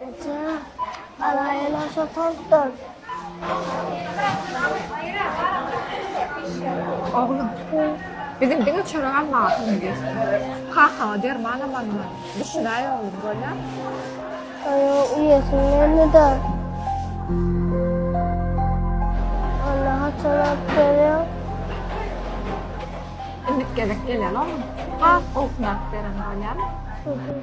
Eje, alaýyn aşa tozdan. Oglum, bizim diňe çörek almaga pulum ýetmez. Kakaňa derman amanma. Düşünäý oglum, bolýa? Aýa, uýasyň geldi-de. Anna haçan alyp gelýär? Endik gezek gelýär, oglum. Has gowusyny alyp bererin, bolýamy?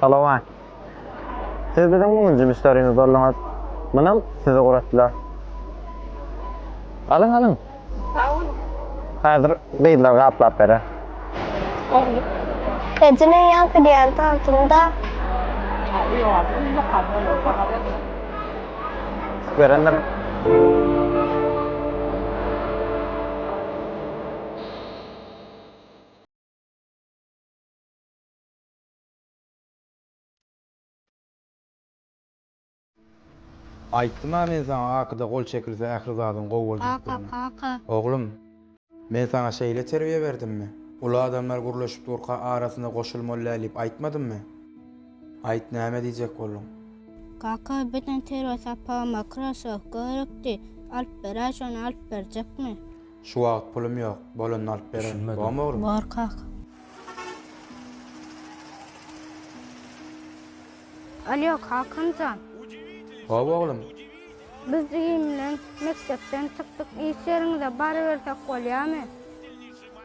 Salowat. Siz biziň müňünji müşderimiz bolduňyz. Munam sizi guratdylar. Alyň, alyň. Sag boluň. Häzir gyzlar gaplap berer. Boldy. Eje men ýaňky diýen tantymda. Berendir. Aýtdym-a men saňa Akyda gol çekilse ähli zadyň gowy boljagdygyny. Kaka, kaka. Oglum, men saňa şeýle terbiýe berdimmi? Uly adamlar gürleşip durka arasyna goşulmalydä diýip aýtmadymmy? Aýt, näme diýjek bolduň? Kaka, beden terbiýe sapagy makrosowka gerekdi. Alyp beräý, şony alyp berjekmi? Şu wagt pulum yok, bolanda alyp bererin. Düşünmedim. Bormy oglum? Bor kaka. Alýo Kakanjan. Hop oglum. Biz jigim bilen mekdepden çykdyk iş ýeriňize barybersek bolýamy?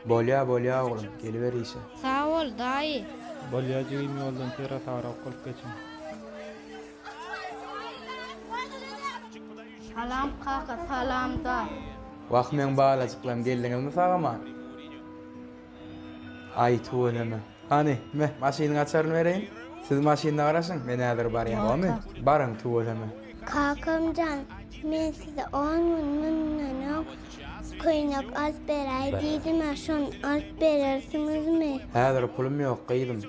Bolýa bolýa oglum geliber işe. Sag bol daýy. Bolýa jigim ýoldan sera sagra ok alyp geçiň. Salam kaka salam da. Wah meň balajyklarym geldiňizmi sag aman. Aý tüweleme. Hany, me, maşynyň açaryny bereýin. Siz maşynyna garaşyň, men häzir barýan, gowymy? Baryň tüweleme. Kakamjan men size on gün mundan öň köýnek alyp beräý diýdimä şony alyp berersiňizmi. Häzir pulum ýok gyzym.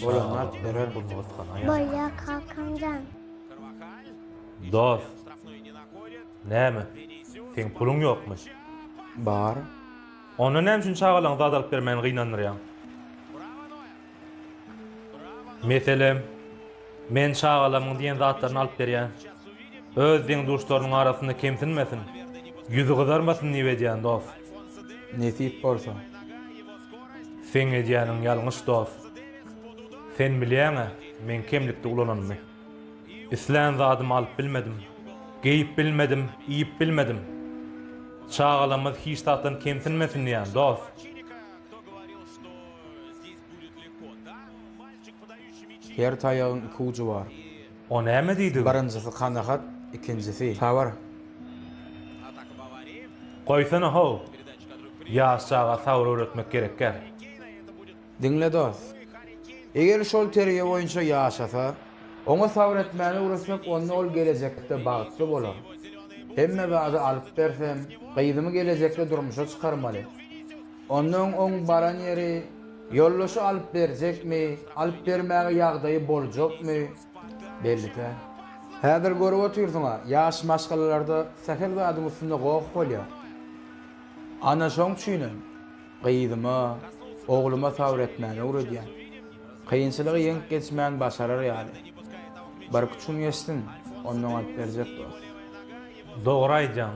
Boýamak gerek bu nusgany aýa. Bolýa Kalkanjan. Dos. Näme? Seň puluň ýokmy? Bar. Onda näme üçin çagalaň zat alyp bermän gynandyrýaň? Meselem, men çagalamyň diýen zatlaryny alyp berýän. Öz deň-duşlarynyň arasynda kemsinmesin, ýüzi gyzarmasyn diýip edýän, dos. Nesip bolsa. Seň edýäniň ýalňyş dos. Sen bilýäňä men kemlikde ulananymy. Islän zadymy alyp bilmedim. Geýip bilmedim, iýip bilmedim. Çagalamyz hiç zatdan kemsinmesin diýýän dos. Her taýagyň iki ujy bar. O näme diýdigiň? Birinjisi kanagat, ikinjisi, sabyr. Goýsana how! Ýaş çaga sabyr öwretmek gerekgär. Diňle dost. Eger şol terbiýe boýunça ýaşasa, oňa sabyr etmäni öwretsek, onda ol gelejekde bagtly bolar. Hemme zady alyp bersem, gyzymy gelejekde durmuşa çykarmaly. Onnoň oň baran ýeri, ýoldaşy alyp berjekmi, alyp bermäge ýagdaýy boljakmy, belli-dä. Häzir görüp otyrsyň-a, ýaş maşgalalarda sähel zadyň üstünde goh bolýar. Ana şoň üçinem, gyzyma, ogluma sabyr etmäni öwredýän. Kynçylygy ýeňip geçmän başarar ýaly. Birküç gün geçsin, onnoň alyp berjek dost. Dogry aýdýaň.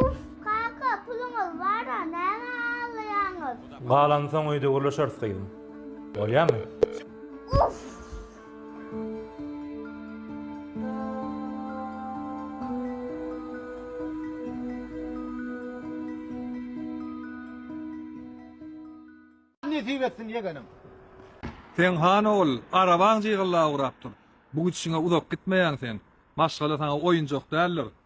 Uff kaka puluňyz bara näme aglaýaňyz. Galany soň öýde gürleşeris gyzym. Bolýamy? Uff. Nesip etsin ýegenim. Sen han ogul, arabaň jygylla ugrap dur. Bu gidişiňe uzak gitmeýäň sen. Maşgala saňa oýunjak däldir.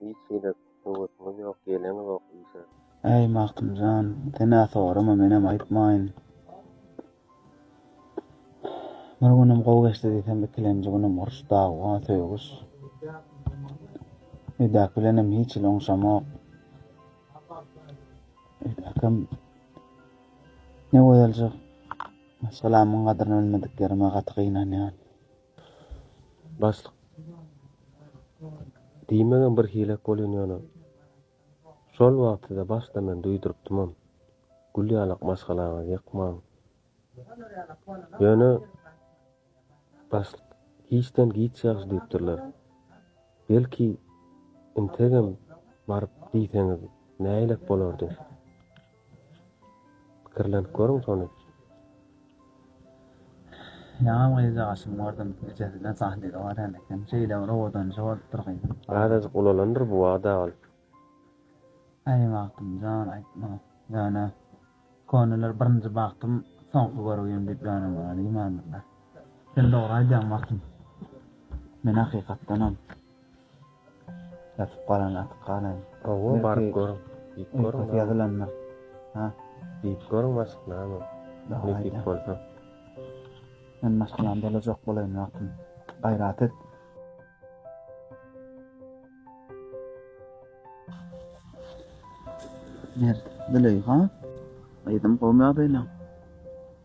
Hiç gezek höwesiňiz ýok, geleňizok işe. Äý Magtymjan, sen-ä sorama, menem aýtmaýyn. Bir günüm gowy geçdi diýsem, ikilenji günüm uruş, dawa, söýgüş. Öýdäki bilenem hiç hili oňşamok. Öýdäkim ne gözeljik, maşgalamyň gadryny bilmedik ýerime gaty gynanýan. Başlyk diýmegem bir hilek bolýan ýöne şol wagt size başda men duýdurypdymam. Gül ýalak maşgalaňyzy ýykmaň. Ýöne başlyk giçden giç ýagşy diýipdirler. Belki integem baryp diýseňiz nähilek bolardy. Pikirlenip görüň şony. Ýaňam gyzjagaşym gördüm, ejesinde sahlygy barýan eken. Şeýle bir owadanjy bolupdyr gyzyň. Azajyk ulalandyr bu wada ol. Äý Magtymjan, aýtma. Ýöne, köneler birinji bagtym, soňky görgim diýip ýönemäge diýmändirler. Sen dogry aýdýaň Magtym. Men hakykatdanam. Ýatyp galan atyp galaýyn. Howwa baryp görüň. Diýip görüň. Uýkusy ýazylandyr. Ha. Diýip görüň başyk name. Nesip bolsa. Men maşgalam bolajak bolaýyn wagtym. Gaýrat et. Mert. Züleýha. Gyzym gowymy ýagdaýlaň.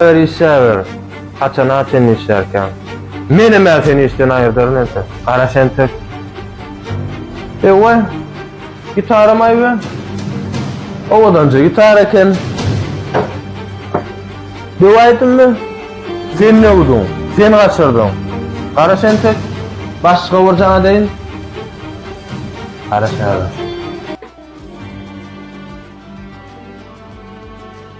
Eger işläber, haçana çenli işlärkäň? Menem-ä seni işden aýyrdaryn entek, gara tentek. Ewa, gitaram aýbe. Owadanja gitara eken. Döwäýdimmi? Sen döwdüň, sen gaçyrdyň. Gara tentek, başga bir jana deýin. Gara şägir.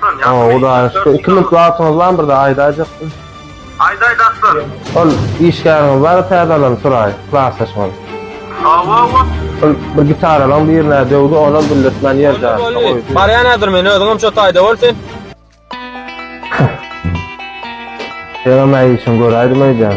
Ha, Hudaýa şükür. Iki minut wagtyňyz barmy bir zat aýdaýjakdym? Aýt aýt Aslan. Ol işgäriňiz bar täze alan Suraý, klasdaşyňyz. Hawa ol. Ol bir gitaralaryň birine döwdi, onam bildirtmän ýer jaýatda goýdy. Barýan häzir men, özüňem şo taýda bol sen. Senem-ä işiňi göräýdim öýdýän.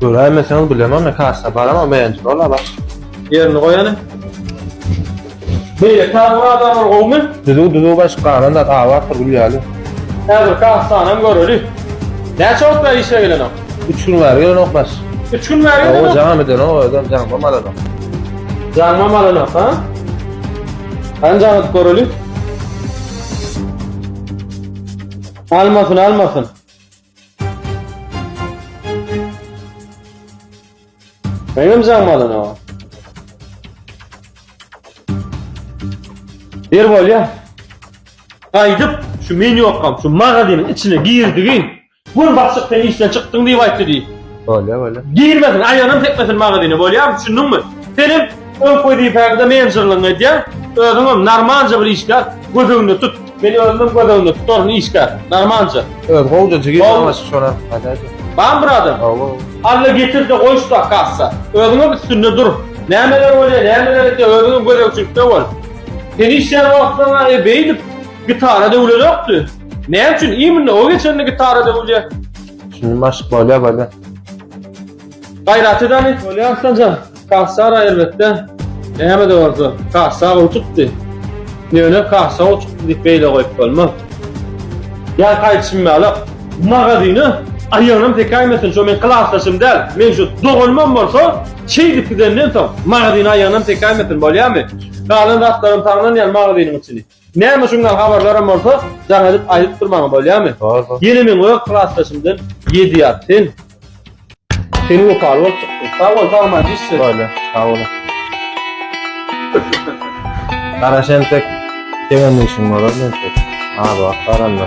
Göräýmeseňiz bilemok ne kassa baram o beýenji bola baş. Ýerini goýany. Beýle taýy adamlar gowmy? Düzüw düzüw baş galan zat abatdyr gül ýaly. Häzir kassanam göreli. Näçe wagt bäri işe gelenok? Üç gün bäri gelenok baş. Üç gün bäri gelenok? Ow jaňam edenok özem jaňmam alanok. Jaňmam alanok ha? Hany jaň edip göreli. Almasyn almasyn. Meňem jaňym alana. Bir bolýa. Gaýdyp şu men ýokam, şu magazynyň içine girdigin. Gün başyk sen işden çykdyň diýip aýtdy diý. Bolýa, bolýa. Girmesin, aýanam tekmesin magazyna, bolýarmy? Düşündiňmi? Senem öň wezipäňde menjerligiňi edýär. Özüňem normalja bir işgär, göz öňünde tut. Men özümem göz öňünde tutaryn işgär, normalja. Öz gowja jigim Gowy. ýalňyş şolar gaýdaýdy. Bar bir adam. Gowy. Alla getirdi goýuşda kassa. Özüňem üstünde dur. Nämeler bolýar, nämeler edýär, özüňem gözegçilikde bol. Sen işleýän wagtlaryňa e beýdip gitara döwlenokdy. Näme üçin imенно o geçende gitara döwülýär? Şuny maşk bolýa bolýa. Gaýrat edani. Bolýar Arslanjan. Kassar aýrbetde näme-de bolsa kassa gowy çykdy. Ýöne kassa gowy çykdy diýip beýle goýup bolmaz. Ýa gaýdyşym ýalak, magazyna aýagynam sekäýmesin, şo meň klasdaşym däl, meň şu doganymam bolsa, şeýdip gidenden soň, magazyna aýagynam sekäýmesin, bolýamy? Galan zatlaram saňlanýar magazynyň içini. Näme şundan habarlaram bolsa jaň edip aýdyp dur maňa bolýamy. Ýene meň öz klasdaşymdan ýedi ýat sen. Sen wepaly bol. Sag bol sagman diş. Bolýa sag bol. Garaş entek deňem işiň bolar entek. Az wagt baranda.